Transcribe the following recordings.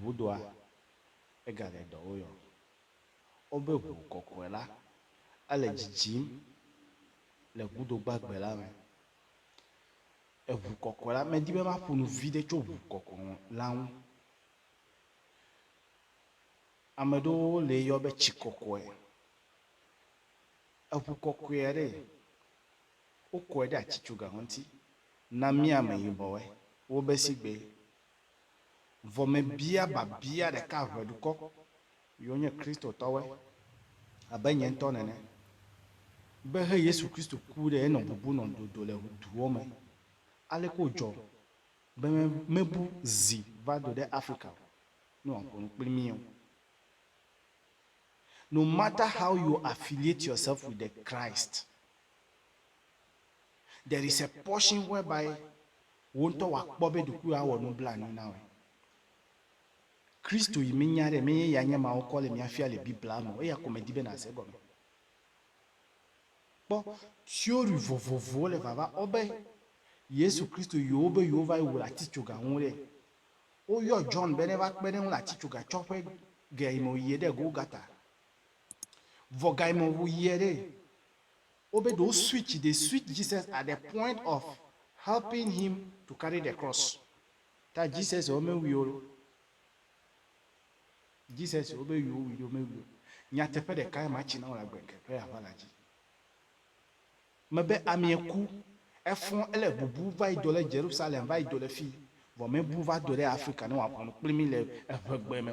Ŋudoa, egale dɔ woyɔ wobe ŋu kɔkɔe la, ele dzidzim le ŋudo gbagbe la me. Eŋu kɔkɔe la, medi be maƒo nu viɖe tso ŋu kɔkɔ la ŋu. Ame ɖewo lee yɔ be tsi kɔkɔe. Eŋu kɔkɔea ɖee, wokɔe ɖe atsitsoga ŋuti na mí ameyibɔwoe, wobe sigbee. Vɔ mebia biabia ɖeka ʋe dukɔ yiwo nye Kristotɔwoe, abe nye ŋutɔ nene, be he Yesu Kristo ku ɖe enɔ bubu nɔ dodo le duwo me. Aleke wòdzɔ be mebu zi va do ɖe Afrika o ne wòaƒo nu kpli mí o? No matter how you affiliate yourself with the Christ, There is a portion whereby wò ŋutɔ wòakpɔ be ɖokuiwò awɔ nublanui na wòe. Kristo yi menya ɖe, menye eya nye emawo kɔ le mia fia le Biblia me o, eya ko medi be nàse egɔme. Kpɔ, theory vovovowo le vava ɔ be Yesu Kristo yi wo be yewo va yi wu le atitsoga ŋu ɖe. Wo yɔ John be ne va kpe ɖe eŋu le atitsoga tsɔ ƒe ge yi me wò yie ɖe Golgata. Vɔ ga yi me wò yie ɖe. Wobe ɖe wo switch they switch Jesus at the point of helping him to carry the cross ta Jesus wo me wuio Jesus wo be wuio wuio me wuio nyateƒe ɖeka ya ma tsi na wo le agbe ŋkeke ya ʋala dzi me be amie ku efɔ ele bubu va yi do le Jerusalem va yi do le fi vɔ me bu va do le Africa ne wa ʋɔnu kpli mi le eʋegbe me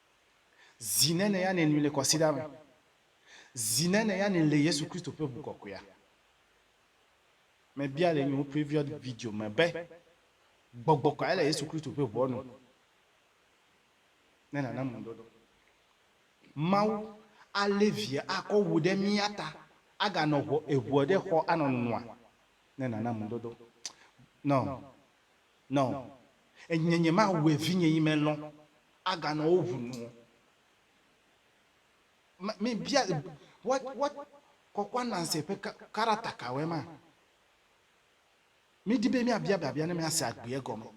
Zi ne ne ya ne nui le kɔsiɖa me. Zi ne ne ya ne le Yesu Kristo ƒe ŋu kɔkɔea. Me bia le nyewo previous video me be, gbɔgbɔ kɔe le Yesu Kristo ƒe ŋua nu. Ne nana mu dodo. Mawu alé via akɔ wu ɖe mía ta aganɔ ŋu eŋua ɖe xɔ anɔ nua. Ne nana mu dodo. Nɔ Nɔ Enye nyemawue vinye yi me lɔ aganɔ wo ʋu nu o. Ma, mi bia, what, what kɔkɔa nanse ƒe ka, karata kawoe ma? Mi di be mia bia biabia ne mia se agbeɛ gɔme.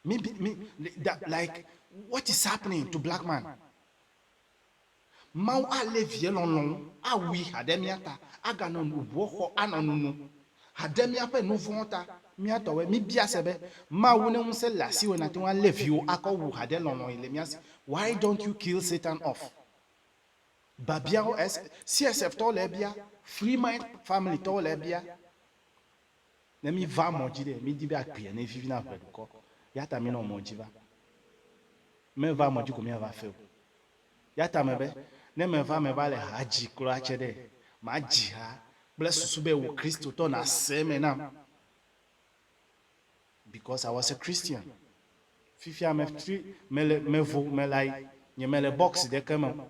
Mi, mi, like, what is happening to black man? Mawu alé vie lɔlɔ̃wo awui ha ɖe mía ta aganɔ nu ŋuɔ xɔ anɔ nu no ha ɖe míaƒe nu vɔ̃wo ta. Mía tɔwɔe, míbia se be, Mawu ne ŋusẽ le asiwòe nàte ŋu alé viwò akɔ wu ha ɖe lɔlɔ̃ yi le mía si. Why don't you kill Satan off? Babiawo, es, CSF tɔwo le ebia, Free Mind Family tɔwo le ebia. Ne míva mɔ dzi ɖe, mídi be akpea ne vivi na ʋe dukɔ. Eya ta mínɔ mɔ dzi va. Meva mɔ dzi ko míava fe o. Eya ta mebe, ne meva meva le ha dzi kura tsɛ ɖe, madzi ha kple susu be wò Kristotɔ nàse eme nam. Because I was a Christian. Fifia me tri, mele, mevo, melayi, nyemele box ɖeke me o.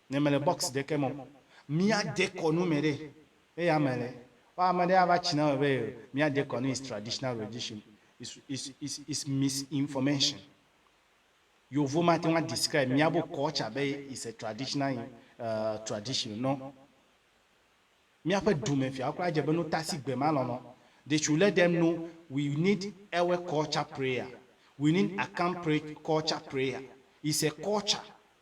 Ne mele box ɖeke me o, mía de kɔ nu me ɖe eya me le. Wa ame ɖe ava tsi na me be yo mía de kɔ nu is traditional religion is is is is misinformation. Yovo ma te ŋu a describe mía bo culture be is a traditional uh tradition no. Mía ƒe du me fia kura dze be no tasi gbe ma lɔlɔ. They should let them know we need ewe culture prayer, we need akam pray culture prayer is a culture.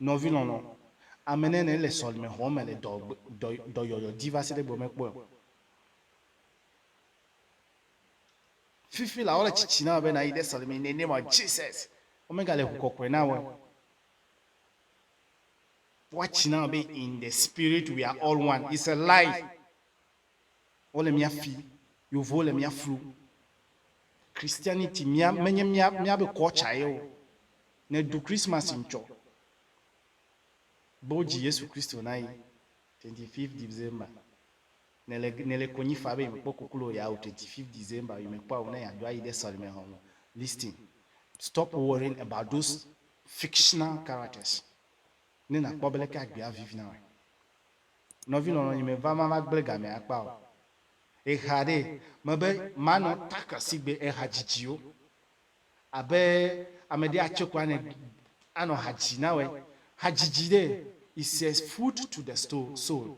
Nɔvi lɔlɔ, ame nɛ ne le sɔlime xɔ me le dɔ dɔ dɔyɔyɔ di va se ɖe egbe me kpɔe o. Fifi la wole tsitsi na be na yi de sɔlime in the name of Jesus. Wo me ga le ŋu kɔkɔe na wɔ. Woatsi na be in the spirit we are all one. It's a lie. Wole mía fi, Yevowo le mía flu. Christianity mía menye mía míabe culture ye o. Ne ɖu Christmas ŋtsɔ be wodzi Yesu Kristo na yi twenty fifth December. Ne le ne le konyi fa be yi me kpɔ koklo o ya o twenty fifth December yi me kpɔa o ne ya do ayi ɖe sɔlime hɔn me. Listen, stop worrying about those fictional characters ne na kpɔ be leke agbea vivi na wɔe. Nɔvi lɔlɔ̃nye, meva ma va gblẽ gamɛ akpa o. Exa ɖee, mebe manɔ Tucker si gbe eha dzidzi wo. Abe ame ɖe atso ko anɛ anɔ ha dzi na wɔe. Ha dzidzi ɖee, it's a food to the sto, soul.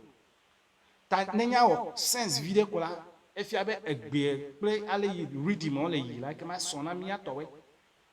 Ta ne nya wɔ sense viɖe ko la, efia be egbeɛ kple ale yi rhythm ɔ le yi la ekema sɔ na mía tɔwɔe.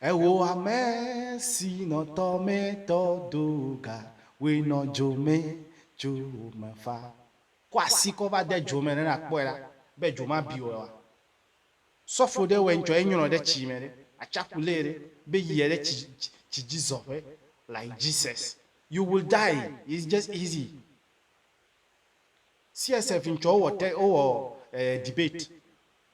Eho ame si nɔ tɔ mɛ tɔ do ga woe nɔ dzo mɛ tso wo me fa. Kɔ asi kɔ va de dzo mɛ ɖe na kpɔe ɖa be dzo ma bi wɔe wa. Sɔ fo ɖe wɔe ŋtsɔ ye nyrɔ ɖe tsi mɛ ɖe atsaku lé ɖe be yi ye ɖe tsi tsi dzi zɔ ƒe like Jesus you will die is just easy CSF ŋtsɔ wo wɔ te wo wɔ debate.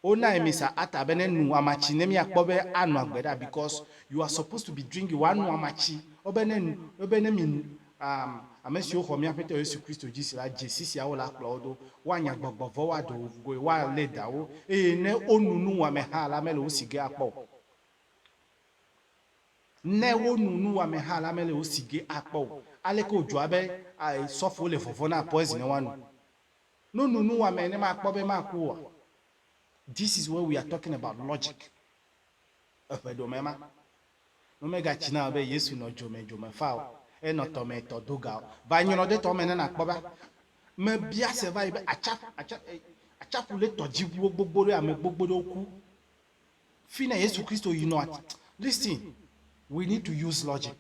Wo nine me sa ata be ne nu amatsi ne mia kpɔ be anɔ agbe ɖa because you are supposed to be drinking wa nu amatsi wo be ne nu wo be ne mi nu am ame siwo xɔ mia ƒetɔ yesu kristo dzi si la dzesi sia wo la kplɔ wo do wa nya gbɔgbɔ vɔ wa ɖe wo goe wa le da wo eye ne wo nu nu wame ha la mele wo si ge akpɔ o ne wo nu nu wame ha la mele wo si ge akpɔ o aleke wo dzɔa be a sɔfo le vɔvɔ na poison ne wa nu. No nu nu wamɛ ne ma kpɔ be ma ku oa? This is where we are talking about logic. Eƒe ɖomɛ ma, no me ga tsi na o be Yesu nɔ dzomɛ dzomɛ fa o, e nɔ tɔ mɛ tɔ do ga o. Va nyrɔ ɖe tɔ mɛ ne na kpɔ be ame bia se va yi be atsaƒu, atsa, e, atsaƒu le tɔdziʋuwo gbogbo ɖe ame gbogbo ɖewo ku. Fine Yesu Kristo yi nɔa? Listen, we need to use logic.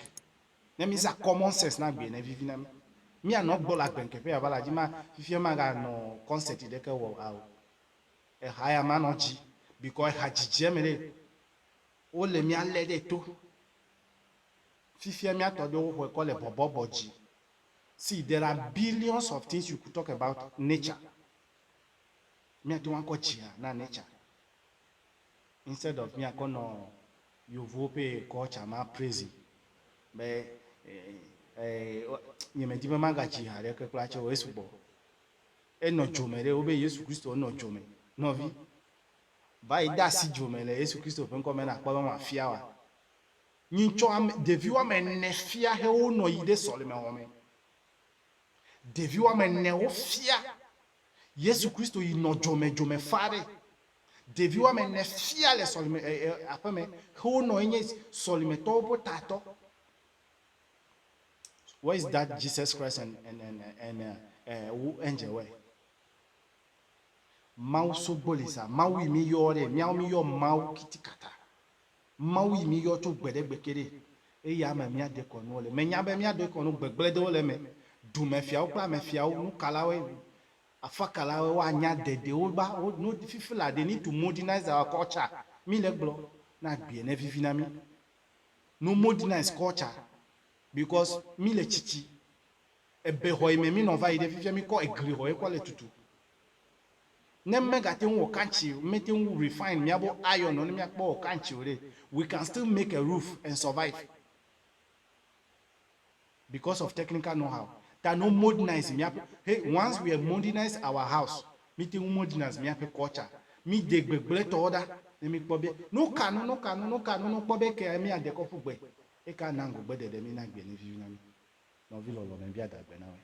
Ne mi zã common sense na gbee ne vivi na mi. Mi a nɔ gbɔ le agbe ŋkeƒe ya va la dzi ma fifia ma ga nɔ concert ɖeke wɔ ao. Eha ya ma nɔ dzi bikɔ eha dzidzi eme ɖe wo le mia le ɖe to. Fifia mia tɔ ɖe wo xɔe kɔ le bɔbɔ bɔ dzi. See there are billions of things you could talk about nature. Mia te ŋu akɔ dzi na nature. instead of míakɔ nɔ yovowo ƒe culture ma praise be nye medi be magadzi ha ɖeke kpla tsɛ o, esugbɔ. Enɔ dzo me ɖe wo be Yesu Kristo nɔ dzo me. Nɔvi, va yi de asi dzo me le Yesu Kristo ƒe ŋkɔ me nakpɔ be mafia oa? Nyi ŋtsɔ ame, ɖevi woame ene fia he wo nɔ yi ɖe sɔleme xɔ me. Ɖevi woame ene wofia Yesu Kristo yi nɔ dzo me, dzo me faa ɖe. Ɖevi woame ene fia le sɔlime e, e, aƒeme xe wo nɔ enye sɔlimetɔwo ƒe tatɔ. Where is that Jesus Christ and and and and uh, uh, wo angel where? Mawu sogbo le sa. Mawu yi mi yɔ ɖe. Miawo mi yɔ Mawu kitikata. Mawu yi mi yɔ tso gbe ɖe gbe ke ɖe. Eya me mia de kɔnuwo le. Menya be mia de kɔnu gbegble ɖewo le me. Dumefiawo kple amefiawo, nukalawoe, Afakala we wa nya de de wo ba wo no fifi la de ni tu modernized our culture mi le gblɔ na gbeɛ ne vivi na mi no modernized culture because mi le tsitsi ebe xɔ yi me mi nɔ va yi ɖe fifia mi kɔ egli xɔ ye kɔ le tutu ne me ga teŋ wɔ kantsi me teŋ refine mia bo iron nɔ ne mia kpɔ wɔ kantsi o ɖe we can still make a roof and survive. because of technical know how ta no modernize miaƒe he once we modernize our house mite ŋu modernize miaƒe culture mi de gbegble tɔ ɖa ne mi kpɔ be no ka no no ka no no ka no no kpɔ be ke a mi a de kɔ ƒu gbe eka na ŋgɔ gbe ɖeɖe mi na gbe ne vivi na mi nɔvi lɔlɔ me bia da gbe na wɛ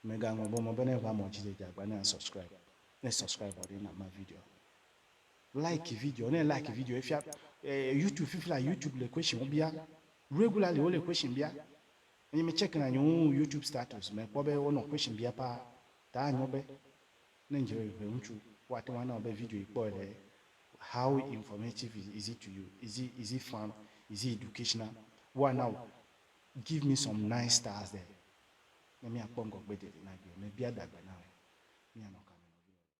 me ga ŋlɔ bɔ mɔ be ne va mɔ dzi de dza gba ne a subscribe ne subscribe ɔ ɖe na ma video. Like video ne like video efia eh, YouTube fifi la YouTube le question wo bia regularly wo le question bia enye me check na nyewo YouTube status me kpɔ be wonɔ question bia pa ta anyo be ne nje be ŋutsu wa te wana be video ikpɔ le how informative is it to you is it is it fun is it educational wa now give me some nice stars there ne mi akpɔ ngɔ gbe de na gbe me bia dagbe na me mi anɔ